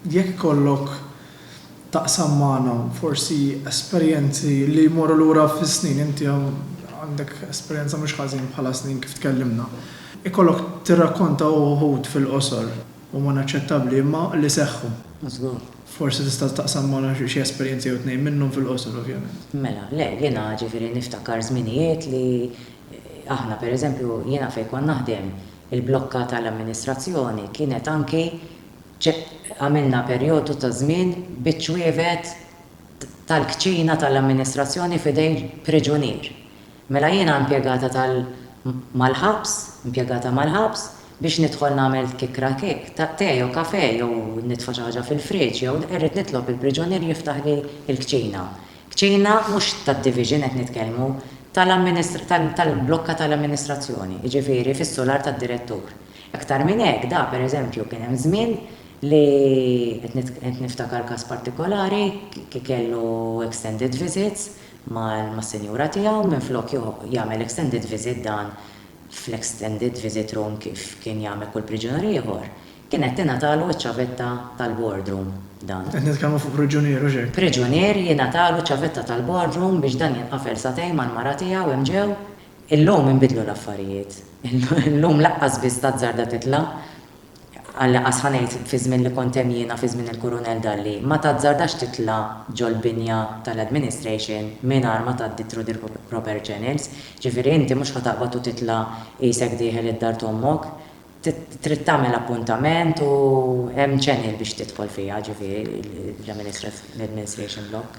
Jekk ikollok taqsam magħna forsi esperjenzi li jmorru lura fis-snin, inti għandek esperjenza mhux ħażin bħala snin kif tkellimna, ikollok tirrakkonta uħud fil-qosor, huma naċċettabbli, imma li seħħu. Żgur. Forsi tista' taqsam magħna xi esperjenzi jew tnejn minnhom fil-qosor ovvjament. Mela, le, jiena ġifieri niftakar żminijiet li aħna pereżempju jiena fejn kont naħdem il-blokka tal-amministrazzjoni kienet anki Ċe, għamilna perjodu ta' żmien biċ-ċwievet tal-kċina tal-amministrazzjoni f'idejn priġunier. Mela jiena impjegata tal, mal-ħabs, impjegata mal-ħabs, biex nidħol nagħmel kikra kik, ta, te jew kafè jew nitfa' xi ħaġa fil-friġġ jew irrid nitlob il-priġunier jiftaħli l-kċina. Kċina mhux tad-division qed nitkellmu, tal-amministra, tal-blokka tal-amministrazzjoni, jiġifieri fis-sular tad-direttur. Aktar minn hekk, da, per eżempju, kien hemm żmien li, qed niftakar każ partikolari, kellu extended visits mas-sinjura tiegħu minflok jagħmel extended visit dan fl-extended visit room kif kien jagħmel kull priġunier ieħor, kienet tingħatalu ċ-ċavetta tal-ward room dan. Qed nitkellmu fuq priġunier, hux hekk? Priġunier jingħatalu ċavetta tal-ward room biex dan jinqafel sagħtejn mal-mara tiegħu hemm ġew. Illum inbidlu l-affarijiet. Illum laqqas biss tazzarda titla', għal qas ħa ngħid fiż-żmien li kont hemm jiena fi żmien il-Kurunell Dalli, ma tazzardax titla' ġol-binja tal-administration mingħajr ma tgħaddi through the proper channels. Ġifieri inti mhux ħa taqbad u titla' qisek dieħel id-dar t'ommok. Trid tagħmel appuntament u hemm channel biex tidħol fiha, ġifieri l-administration block.